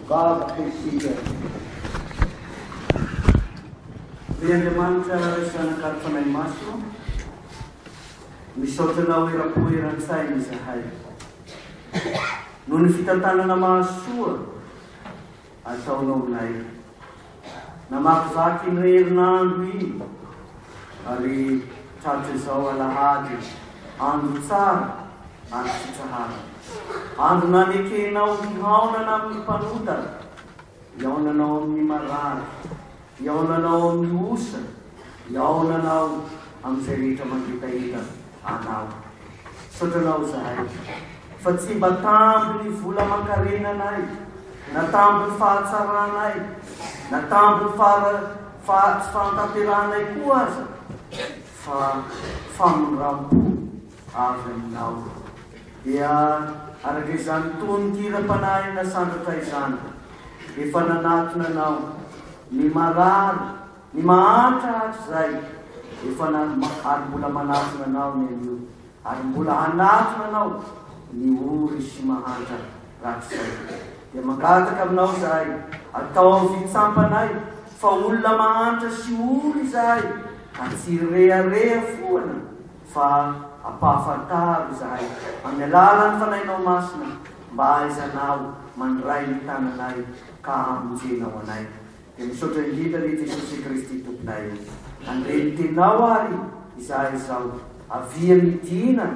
Vavaka isika. Ry Andriamanitra Ray Zanak'Ary Fanahy Masina, misaotra Anao eram-po eran-tsaina izahay, noho ny fitantanana mahasoa ataonao aminay. Namakivaky iny herinandro iny ary tratrizao alahady andro tsara ary sitraharana. Andro nanekenao hihaonana amin'ny mpanotana, hihaonanao amin'ny marary, hihaonanao amin'ny osa, hihaonanao amin'izay rehetra mangetaheta anao. Misaotra anao zahay fa tsy mba tambin'ny vola aman-karenanay na tambin'ny fahatsaranay na tambin'ny fahara tsy fahatanterahanay koa aza fa famindram-po avy aminao. Dia araka izany tonon-kiram-panahy nasandratra izany, efa nanatona anao ny marary Ny mahantra hatrizay efa nalma ary mbola manatona anao ny anio ary mbola hanatona anao ny ory sy mahantra rahatrizay dia mangataka aminao izahay ataovy hitsampanay fa olona mahantra sy ory izahay ka tsy hirehareha foana fa ampahafantaro izahay amin'ny alalan'ny Fanahinao Masina mba ahaizanao mandray ny tananay ka hamonjenao anay. Dia misaotra indrindra re Jesosy Kristy Tomponay ô! Handre ny tenao ary izahay izao, avia midina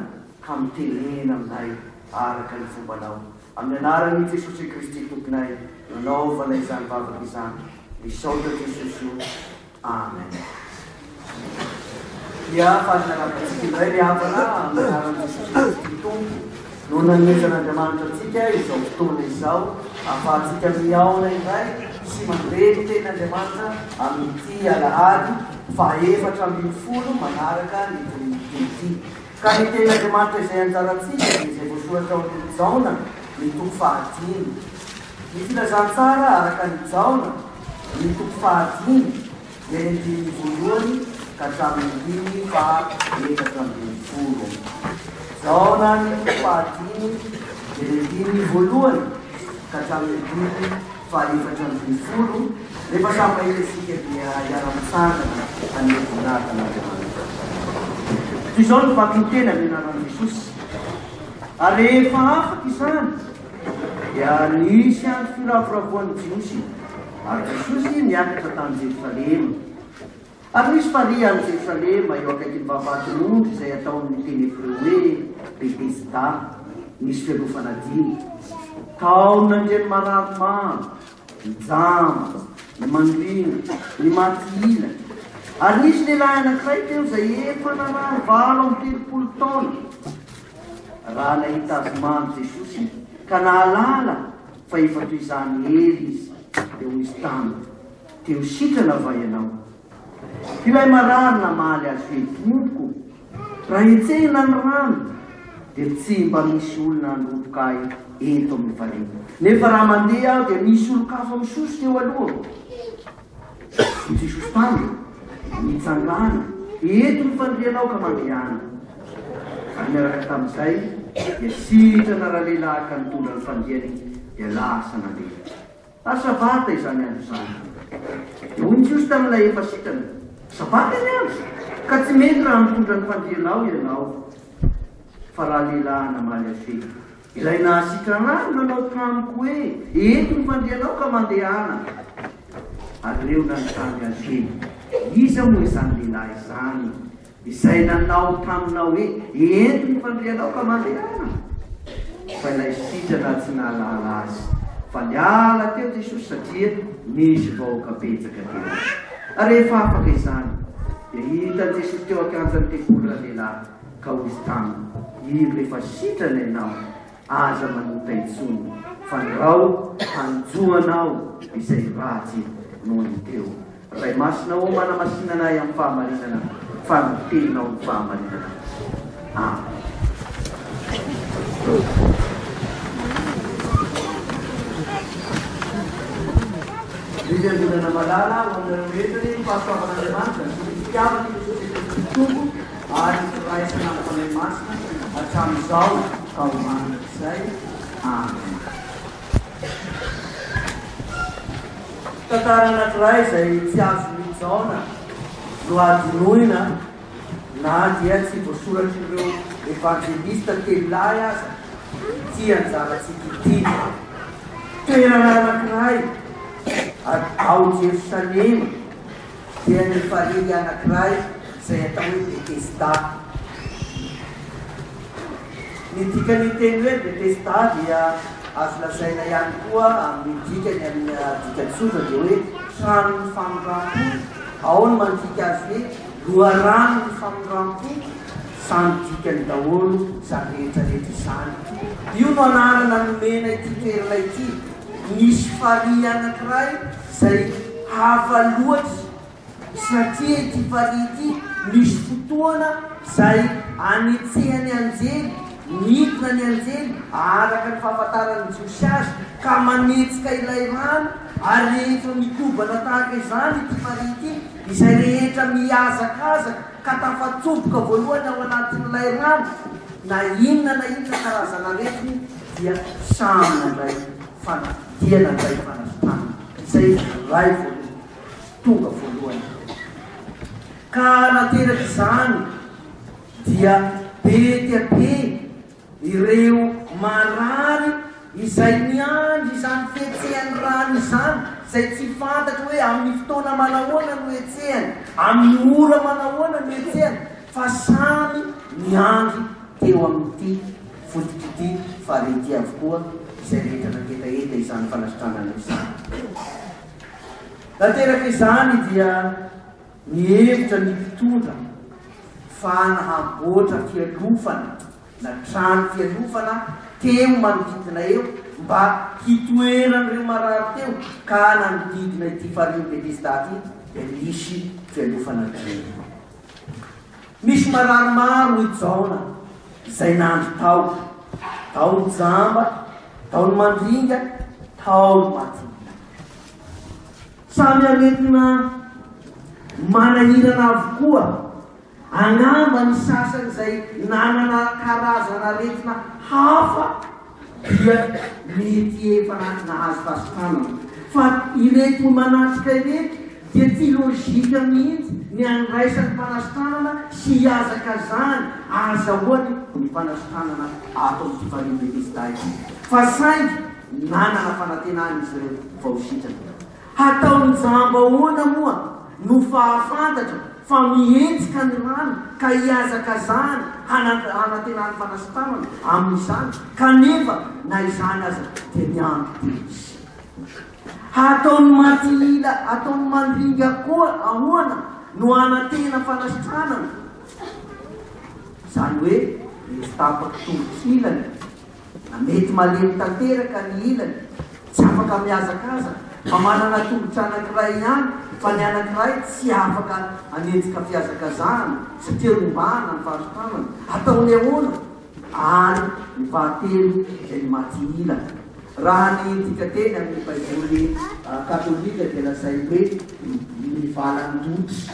ka mitenena aminay araka ny fombanao. Amin'ny anaran'i Jesosy Kristy Tomponay no anaovana izany vavaka izany. Misaotra Jesosy ô! Amen. Hiafa ny anabontsika indray ry havana amin'ny anaran'i Jesosy Kristy Tompo. Noho ny hanomezan'Andriamanitra antsika izao fotoana izao, ahafahantsika mihaona indray sy mandre ny tenin'Andriamanitra amin'ity alahady fahefatra ambin'ny folo manaraka ny Trinite ity. Ka ny tenin'Andriamanitra izay anjarantsika dia izay voasoratra ao amin'ny Jaona ny toko fahadimy. Ny filazantsara araka an'i Jaona ny toko fahadimy Eny ny dimy voalohany ka hatramin'ny dimy faha efatra ambin'ny folo. Zaonany fahadimy Eny ny dimy voalohany ka hatramin'ny dimy faha efatra ambin'ny folo rehefa samy mahita isika dia hiara-mitsangana hanome voninahitra an'Andriamanitra. Toy izao no vakiny teny avy anaran'i Jesosy ary rehefa afaka izany dia nisy andro firavoravoan'ny Jiosy, ary Jesosy niakatra tany Jerosalema. Ary nisy farihy any Jerosalema, eo akaikin'ny vavahaton'ondry izay atao amin'ny teny hebreo hoe Betesda, nisy fialofana dimy. Tao nandrian'ny marary maro, ny jamba, ny mangina, ny maty ilany. Ary nisy lehilahy anankiray teo izay efa narary valo amby telopolo taona. Raha nahita azy mando Jesosy ka nahalala fa efa toy izany hery izy, dia hoy izy taminy, Te ho sitrana va ianao? Ilay marary namaly azy hoe, Tompoko, raha hetsehina ny rano, dia tsy mba misy olona handroboka ahy eto amin'ny farihy. Nefa raha mandeha aho, dia misy olon-kafa misosika eo alohako. Fotsy sofitany nitsangana eto ny fandrianao ka mandriana. Izany niaraka tamin'izay dia sitrana ralehilahy ka nitondra ny fandriany dia lasa nandeha. Ary sabata izany andro izany. Dia hoy ny Jiosy tamin'ilay efa sitrana, Sabata ny andro ka tsy mety raha mitondra ny fandrianao ianao. Fa ralehilahy namaly azy hoe, Izay nahasitrana ahy nanao tamiko hoe, Eto ny fandrianao ka mandehana. Ary ireo nanontany azy hoe, Iza moa izany lehilahy izany izay nanao taminao hoe, Ento ny fandrianao ka mandehana? Fa ilay sitrana tsy nahalala azy fa niala teo Jesosy satria nisy vahoaka betsaka teo. Ary rehefa afaka izany, dia hitan'i Jesosy teo an-kianjan'ny tempoly ralehilahy. ka hoy taminy, Indro efa sitrana ianao, aza manota intsony, fandrao hanjohana aho izay ratsy nony teo. Ray Masina ô, manamasinana ahy amin'ny fahamarinana, fa ny Teninao no fahamarinana. Amen. Fiangonana malala ho anareo rehetra ny fahasoavan'Andriamanitra sy ny fitiavany ny Tompo. ary horaisina amin'ny Fanahy Masina hatramin'izao ka ho mandrakizay. Amena. Tantara anankiray izay tsy azon'i Jaona nohadinoina na dia tsy voasoratr'ireo Evanjelista telo lahy aza ity anjarantsika ity. Toerana anankiray ao Jerosalema. dia ny valiha anankiray izay atao hoe Betesda. Ny dikan'ny teny hoe Betesda dia azo lazaina ihany koa amin'ny dikany amin'ny dika tsotra dia hoe tranon'ny famindram-po, ao ny mandika azy hoe loharanon'ny famindram-po, samy dikany daholo izany rehetra rehetra izany. Io no anarana nomena ity toerana ity, misy farihy anankiray Zay hafa loatry tsy natria ity farihy ity misy fotoana zay anetsehany anjely midina ny anjely araka ny fahafantaran ny jiosy azy ka manetsika ilay rano ary rehefa mikobana tahaka izany ity farihy ity izay rehetra mihazakazaka ka tafatsoboka voalohany ao anatin ilay rano na inona na inona karazan aretina dia samy mandray fanahy. dia nandray fanavotana, izay iray voaloha, tonga voalohany ireo. Ka nateraka izany dia be dia be ireo marary izay niandry izany fihetsehan'ny rano izany, izay tsy fantatro hoe amin'ny fotoana manahoana no hetsehany, amin'ny ora manahoana no hetsehany, fa samy niandry teo amin'ity Foto-k'ity faly ity avokoa izay rehetra nangetaheta izany fanasitranana izany. Nateraka izany dia nihevitra ny mpitondra fa na hamboatra fialofana na trano fialofana teo manodidina eo mba hitoeran'ireo marary teo ka nanodidina ity farihin'i Bethesda ity dia nisy fialofana telo. Misy marary maro hoy Jaona izay nandry tao, tao ny jamba, tao ny mandringa, tao ny matinina. Samy aretina manahirana avokoa. Angamba ny sasany izay nanana karazana aretina hafa dia mety efa nahazo fasokanana. Fa ireto manatrika ireto dia tsy lojika mihitsy ny handraisany fanasitranana sy hihazakazahany ahazahoany ny fanasitranana ato amin'ity Farine de Pistà ity. Fa saingy nanana fanantenana izy ireo vao sitrana. Hataon'i Jamba ahoana moa no fahafantatra fa mihetsika ny rano ka hihazakazahana hanantenany fanasitranana amin'izany kanefa na izany aza dia miandry dia misy. Hataon'i Matihila, ataon'i Mandringa koa ahoana no hanantena fanasitranana? Izany hoe rehefa tapaka tongotra ilany Na mety malemy tanteraka ny ilany, tsy afaka mihazakazaka, fa manana tongotra anankiray ihany, fa ny anankiray tsy afaka hanenjika fihazakazahana sy tia rombahana ny fari-tanana. Ataony ahoana? Ary ny fahatelo izay ny maty ila. Raha ny dikanteny amin'ny Baiboly katolika dia lazainy hoe mivalan-dotra.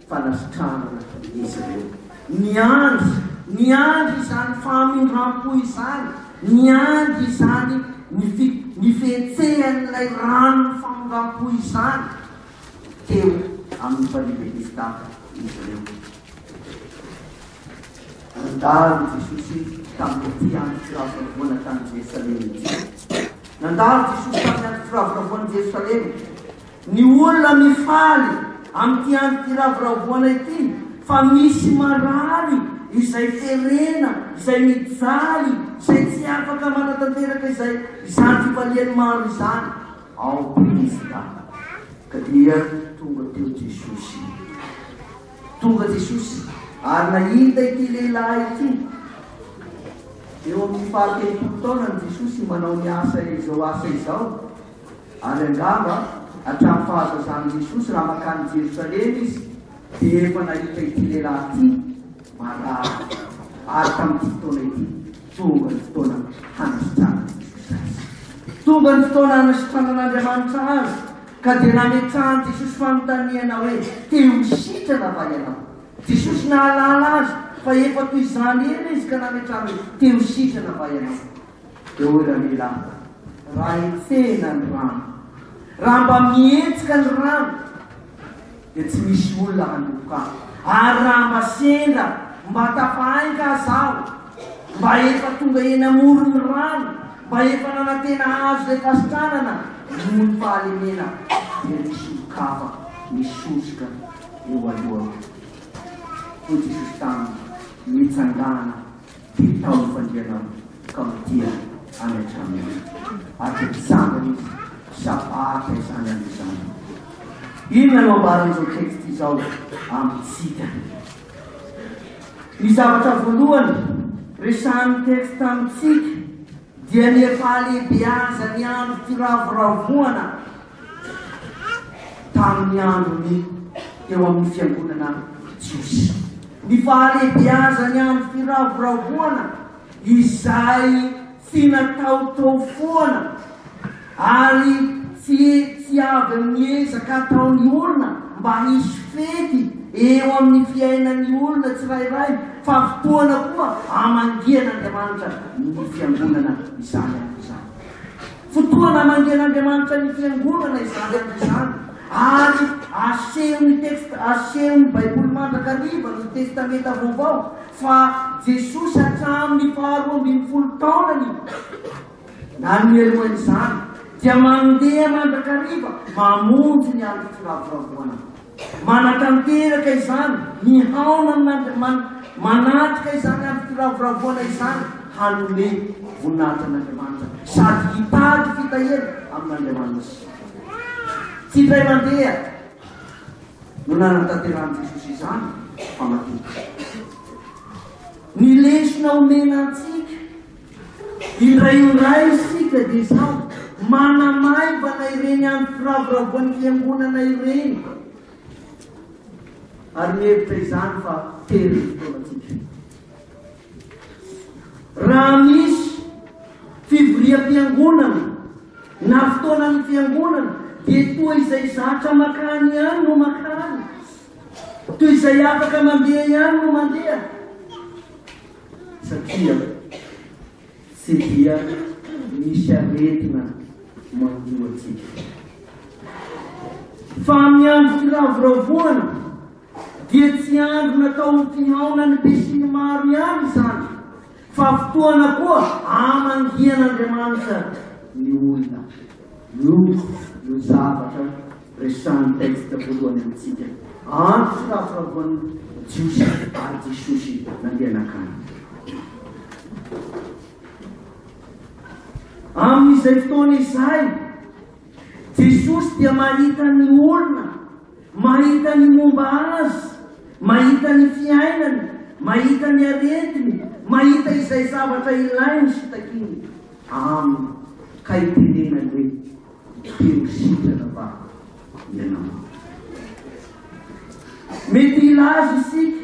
fanasitranana izy ireo. Niandry, niandry izany famindram-po izany, niandry izany ny fi, ny fihetsehan'ilay ranon'ny famindram-po izany teo amin'ny Mpandrindra Ifta izy ireo. Nandalo Jesosy tamin'ity andro firavoravoana tany Jerosalema ity. Nandalo Jesosy tamin'ny andro firavoravoan'i Jerosalema. Ny olona mifaly amin'ity andro firavoravoana ity fa misy marary izay terena, izay mijaly, izay tsy afaka manatanteraka izay izany fifaliany maro izany ao Betesda. Ka dia tonga teo Jesosy. Tonga Jesosy ary nahita ity lehilahy ity. Eo amin'ny fahatelopolo taonany Jesosy manao ny asa izao asa izao. Ary angamba hatramin'ny fahazazan'i Jesosy raha mankany Jerosalema izy dia efa nahita ity lehilahy ity marary. Ary tamin'ity fotoana ity, tonga ny fotoana hanasitranana Azy. Tonga ny fotoana hanasitranan'Andriamanitra Azy, ka dia nametrahan'i Jesosy fanontaniana hoe, Te ho sitrana va ianao? Jesosy nahalala azy fa efa toy izany ela izy ka nametrany hoe, Te ho sitrana va ianao? Dôla milava. Raha hetsehina ny rano. Raha mba mihetsika ny rano dia tsy misy olona hanomboka ahy. Ary raha mba sendra mba tafahainga aza aho, mba efa tonga eny amoron'ny rano, mba efa nanantena hahazo izay fasitranana noho ny fahalemena, dia misy olon-kafa misosoka eo alohako. Hoy Jesosy taminy, Mitsangàna. Dia tamin'ny fandianako ka mitia any an-trano any. Ary dia mitsangana izy sady aharitra izany any izany. Inona no ambaran'izao text izao amintsika? Ny zavatra voalohany resahan'ny text amintsika Dia ny efa halehibeazan'ny andro firavoravoana tamin'ny andron'ny teo amin'ny fiangonana jiosy. Ny fahalehibeazan'ny andro firavoravoana izay tsy natao teo foana. Ary tsy tsy avy amin'ny ezaka ataon'ny olona mba hisy fety eo amin'ny fiainan'ny olona tsirairay fa fotoana koa hamangian'Andriamanitra ny Fiangonana izany andro izany. Fotoana hamangian'Andriamanitra ny Fiangonana izany andro izany ary asehon'ny text asehon'ny Baiboly mandrakariva ny Testamenta Vaovao fa Jesosy hatramin'ny faharoa ambin'ny folo taonany Ary mialoha izany dia mandeha mandrakariva mamonjy ny andro firavoravoana. Manatanteraka izany, mihaona amin'Andriamanitra, manatrika izany andro firavoravoana izany hanome voninahitra an'Andriamanitra sady hitady fitahiana amin'Andriamanitra. Tsy indray mandeha no nanatanterahan'i Jesosy izany fa matetika. Ny lesona omena antsika Indray indray isika dia samy manamaivana ireny andro firavoravoan'ny Fiangonana ireny ary mihevitra izany fa tery ny fotoanantsika. Raha misy fivoriam-piangonana na fotoanan'ny Fiangonana dia toa izay zatra makany ihany no makany, toy izay afaka mandeha ihany no mandeha. satria tsy dia misy aretina manjo antsika. Fa amin'ny andro firavoravoana dia tsy andro natao ho fihaonan'ny besinimaro ihany izany, fa fotoana koa amangian'Andriamanitra ny olona. Io no zavatra Resahan'ny texte voalohany amintsika andro firafiravoan'ny Jiosy ary Jesosy nandeha nakany. Amin'izay fotoana izay, Jesosy dia mahita ny olona, mahita ny momba Azy, mahita ny fiainany, mahita ny aretiny, mahita izay zavatra ilainy sy takiany Aminy, ka itenenany hoe, Hiteny sitrana va ianao? Mety hilaza isika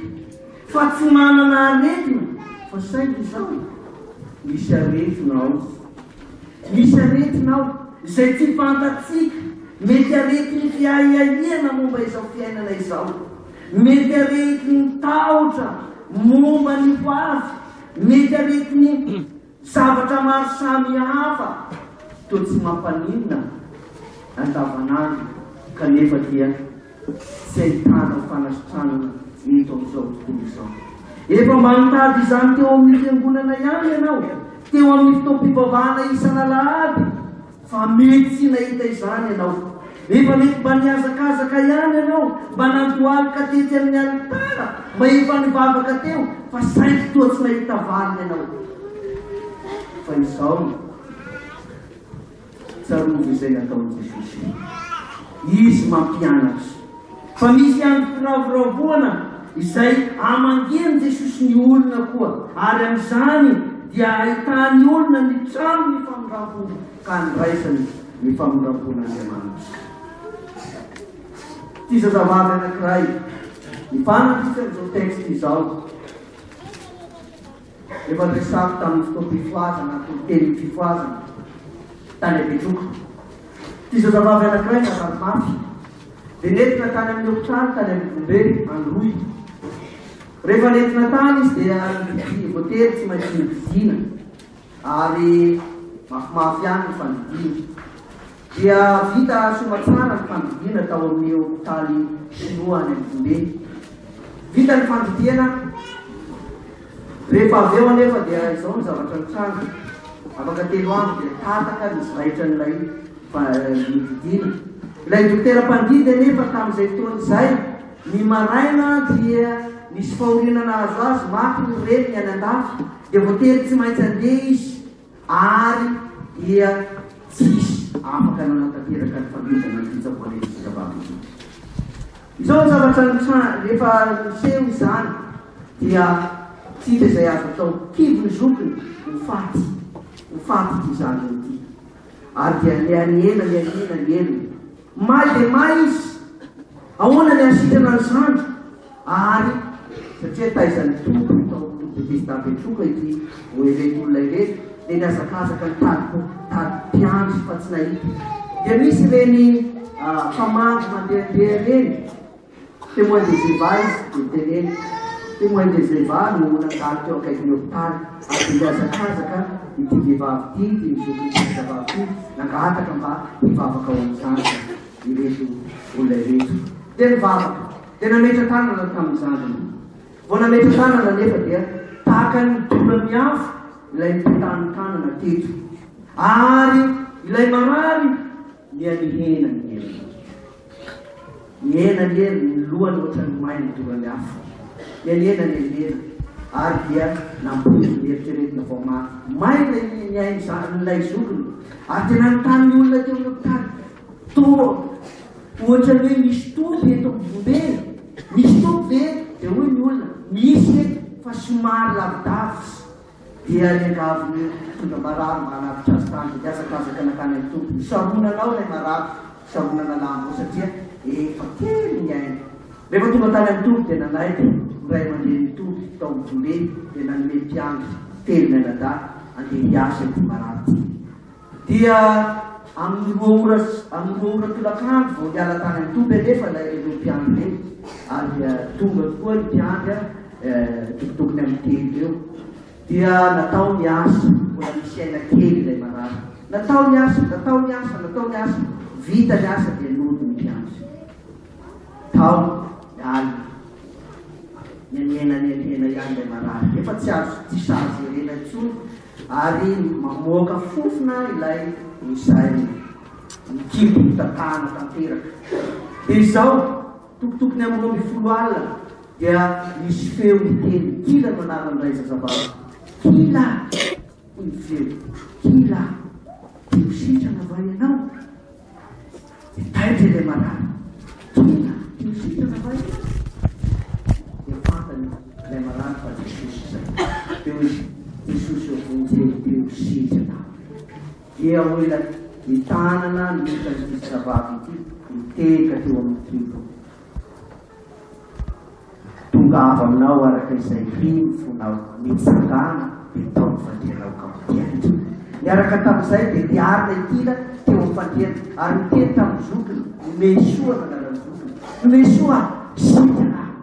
fa tsy manana aretina fa saingy izao, misy aretina ao. Misy aretina ao izay tsy fantatsika. Mety aretin'ny fiahiahiana momba izao fiainana izao. Mety aretin'ny tahotra momba ny ho avy. Mety aretin'ny Zavatra maro samihafa toa tsy mampaninona andavanandro kanefa dia tsy ahitana fanasitranana eto amin'izao tontolo izao. Efa mba nitady izany teo amin'ny fiangonana ihany ianao, teo amin'ny fotoam-pivavahana isan'alahady. Fa mety tsy nahita izany ianao. Efa mety mba nihazakazaka ihany ianao, mba nandohalika tety amin'ny alitara, mba efa nivavaka teo, fa saingy toa tsy nahita valiny ianao. Fa izao no tsarovy izay nataon'i Jesosy. Izy mampianatra. Fa misy ihany firavoravoana izay amangian'i Jesosy ny olona koa, ary amin'izany dia ahitany olona ny trano ny famindrampo ka andraisany ny famindrampon'Andriamanitra. Ity zazavavy anankiray, ny fanampiny amin'izao texte izao. Efa niresahako tamin'ny fotoam-pifohazana ny toriteny fifohazana tany Abetroka. Ity zazavavy anankiray narary mafy dia nentina tany amin'ny hopitaly tany Ambovombe, Androy. Rehefa nentina tany izy dia nividy voatery tsy maintsy novidiana ary mafimafy ihany ny fandidiana. dia vita soa tsara ny fandidiana tao amin'ny hopitaly Shinoa any Antsonbe. Vita ny fandidiana, rehefa avy eo anefa dia izao ny zavatra nitranga, afaka telo andro dia tataka ny zaitran'ilay fandidiana. Ilay dokotera mpandidy anefa tamin'izay fotoana izay, ny maraina dia nisy fahoriana nahazo azy, maty ny reniny any an-dafy, dia voatery tsy maintsy handeha izy. ary dia tsisy afaka nanatanteraka ny fanomezana ny fitsaboana ireo zazavavy ireo. Izao ny zavatra nitranga, rehefa niseho izany dia tsy hita izay azo atao, kivy ny zokiny, ho faty, ho faty ity zanany ity, ary dia nianiena, nianiena ny helony. May dia may izy. Ahoana ny hasitrana ny zandry ary satria taizan'ny Tompo tao Betesda Betroka ity vao ireto olona ireto dia nihazakazaka nitady mpitady mpiandry fa tsy nahita. Dia misy ireny mpamandry mandehandeha ireny Témoin de Jéhovah izy dia teneno, Témoin de Jéhovah no nandalo teo akaikin'ny hopitaly ary dia nihazakazaka ity vehivavy ity, ity zokin'ny mpianakavavy ity, nangataka mba hivavaka ho an'ny zandriny ireto olona ireto. Dia nivavaka, dia nametra-tanana tamin'ny zandriny. Vao nametra-tanana anefa dia tahaka ny dola miafo ilay nipetahan'ny tanana teto. Ary ilay marary. Miha mihena ny heriny. Mihena ny heriny, ny lohany ohatran'ny may midoran'ny afo. Miha mihena ny helihely, ary dia nampoiziny ny eritreretina vao mafy. Maina iny ny ain'ny zanan'ilay zokiny, ary dia nanontany ny olona teo amin'ny tany, Toa ohatran'ny hoe misy toby eto amin'ny vombe e! Misy toby ve? Dia hoy ny olona, Misy eto, fa somary lavidavitra. Dia iangavin'ireo mpitondra marary mba hanavotra azy tany dia nihazakazaka nankany amin'ny Tompo. Nisarona anao ilay marary, nisarona nalahany koa satria efa kely ny ainy. Rehefa tonga tany amin'ny Tompo dia nanaiky ny ray aman-drenin'ny Tompo tao amin'ny foibe dia nanome mpiandry telo mianadahy handeha hiasa ity marary ity. Dia amin'ny roa ora sy amin'ny roa ora tolakandro vao niala tany an-toby anefa ilay ireo mpiandry ireo, ary tonga tokoa ny mpiandry tokony tokony amin'ny telo eo. Dia natao ny asa, mbola misy aina kely ilay marary. Natao ny asa, natao ny asa, natao ny asa, vita ny asa dia nody ny mpiandry. Tao ny alina, nianiana nianiana ihany ilay marary, nefa tsy azo tsy sahaza jerena intsony Ary mamoaka fofona ilay nozairiny. Ny kibo mitatahana tanteraka. Dia izao, tokotokony amin'ny roa ambin'ny folo alina, dia nisy feo niteny, Kila no anaran'ilay zazavavy. Kila! hoy ny feo. Kila! Te ho sitrana va ianao? Mitaitra ilay marary. Tonga io fitana fahiny azy. Dia fantany ilay marary fa Jesosy izay. Dia hoy izy, Jesosy ô, vonjeo teo sintsy anao. Dia hoy ilay mitana an'andraikitra an'ity zazavavy ity, Mitehaka teo amin'ny kibo. Tongava aminao araka izay ry ny fonao nitsangana dia tao ny fandrianao ka mpiantra. Niaraka tamin'izay dia niarina i Tila teo amin'ny fandriana ary niteny tamin'ny zokiny, Nomehy soa no anaran'ny zokiny. Nomehy soa aho, sitrana aho.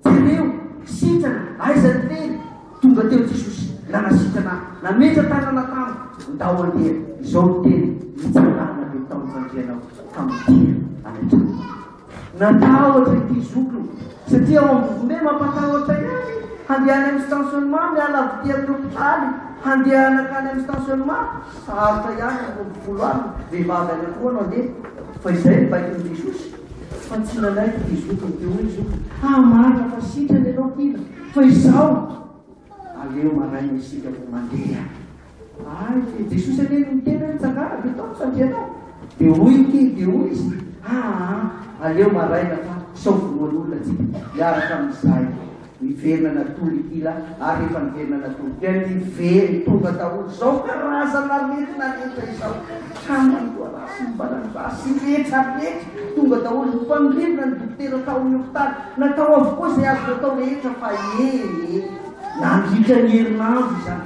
Jereo, sitrana, aiza ny fery? Tonga teo Jesosy, nanasitrana ahy, nametra tanana tamiko, ndao handeha. Izao no teniny, Nitsangana dia tao ny fandrianao ka midera any an-tranonao. Natahotra ity zokiny satria ao amin'ny vovombe mampatahotra ihany handeha any amin'ny stationnement miala avy ety amin'ny hopitaly handeha hanakany amin'ny stationnement sarotra ihany ny roa folo alina vehivavy anankiroa no handeha fa izay ny baikon'i Jesosy fa tsy nanaiky ity zokiny ity hoy ny zokiny ah marina fa sitrana ianao kila fa izaho aleo maraina isika vao mandeha Ay fe Jesosy anie no niteny hoe mitsangàna de tao ny fandrianao de hoy ny kely de hoy izy aa aleo maraina fa sao vonoan'olona tsika miaraka amin'izay miverina natory ity la ary rehefa niverina natory dia niveriny tonga daholo izao karazana aretina rehetra izao haman'ny voarasy ny valan'ny rasy rehetra rehetra tonga daholo ny mpandrivona ny dokotera tao amin'ny hopitaly natao avokoa izay azo natao rehetra fa ee nandritra ny herinandro izany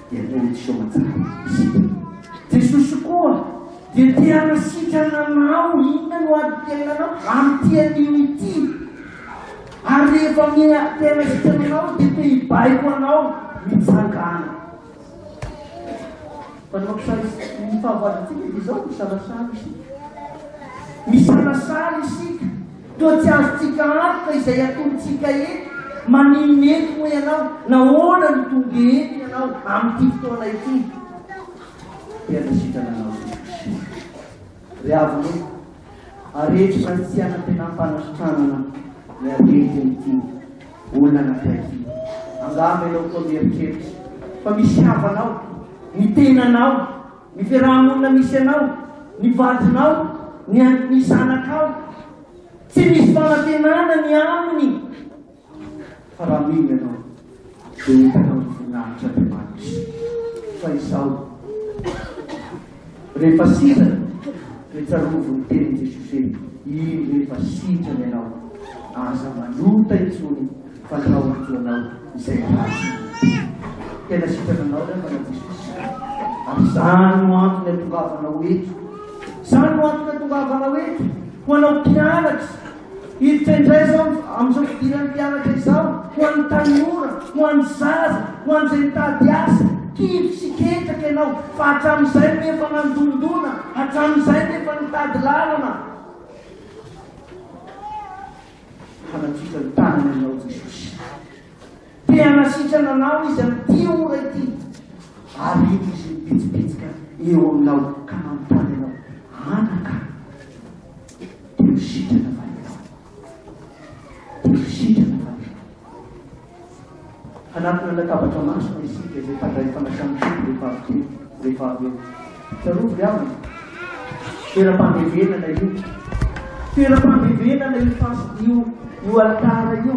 dia connexion matsapa possible. Jesosy koa dia te hanasitrana anao, inona no ady tenina anao? Amin'ity anio ity. Ary rehefa mi te hanasitrana anao dia te hibaiko anao mitsangana. Manampy sary ny fahavalontsika dia izao, misalasala isika. Misalasala isika. Toa tsy azontsika antoka izay atolotsika eto. Maninona eto moa ianao? Nahoana no tonga eto ianao amin'ity fotoana ity? Dia ny sitrana nahazoako Kristy. Ry havana ô, areto izany tsy hanantenam-panasitranana ny aretin'ity olona anankiray ity. Angamba ianao koa mieritreritra fa misy havana ao, ny tenanao. Ny fiaraha-monina misy anao, ny vadinao, ny an, ny zanakao. Tsy misy fanantenana ny aminy. Fa raha mino ianao, dia hitanao ny voninahitr' Andriamanitra. Fa izao, rehefa sitrana, dia tsarovy ny tenin' Jesosy hoe, Indro efa sitrana ianao, aza manota intsony. Fandrao ny foanao izay ratsy ny tena. Tena sitrana anao re Mana Jesosy ary izany no antony atongavanao eto. Izany no antony atongavanao eto ho anao mpianatra. Hiditra indray izao amin'izao fidiran'ny mpianatra izao ho an'ny tanora, ho an'ny zaza, ho an'izay mitady asa. Kivy sy ketraka ianao fa hatramin'izay no efa nandondona, hatramin'izay no efa nitady lalana. Hanatitra ny tanany ianao Jesosy. Te hanasitrana anao Izy amin'ity ora ity. Ary hita Izy mipitsipitsika eo aminao ka manontany anao, anaka, te ho sitrana va ianao? Te ho sitrana va ianao? Hanatona latabatra masina isika izay mpandray fanasana soa rehefa avy teo, rehefa avy eo. Tsarovy ry havana, toeram-pandevenana io. Toeram-pandevenana io fas-, io, io alitara io.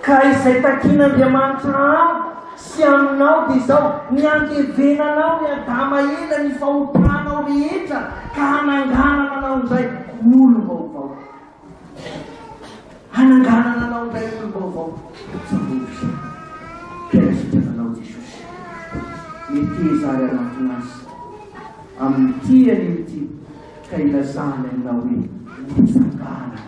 Ka izay takin'Andriamanitra amiko sy aminao dia izao, ny handevenanao ny Adama ela, ny fahotanao rehetra, ka hananganana anao indray ho olom-baovao. Hananganana anao indray ny olom-baovao Jehovah. Presitra anao Jesosy. Meteza ary anatona azy amin'ny tiany io ity ka ilazany aminao hoe, Mitsangàna,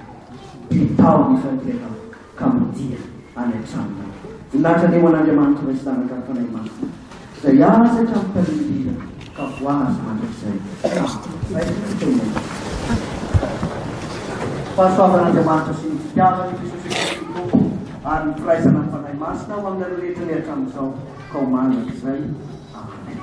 bitaho ny fandianao. ka mandeha any an-tranonay. Nilatrany eo an'Andriamanitra iray sy zanak'Ary Fanahy Masina, izay azy hatramin'ny tahirim-bira ka voahaja mandrakizay. Fahasoavan'Andriamanitra sy ny fitiavan'i Jesosy Kristy Tompo ary ny firaisana amin'ny Fanahy Masina ho aminareo rehetra ny hatramin'izao ka ho mandrakizay. Amena.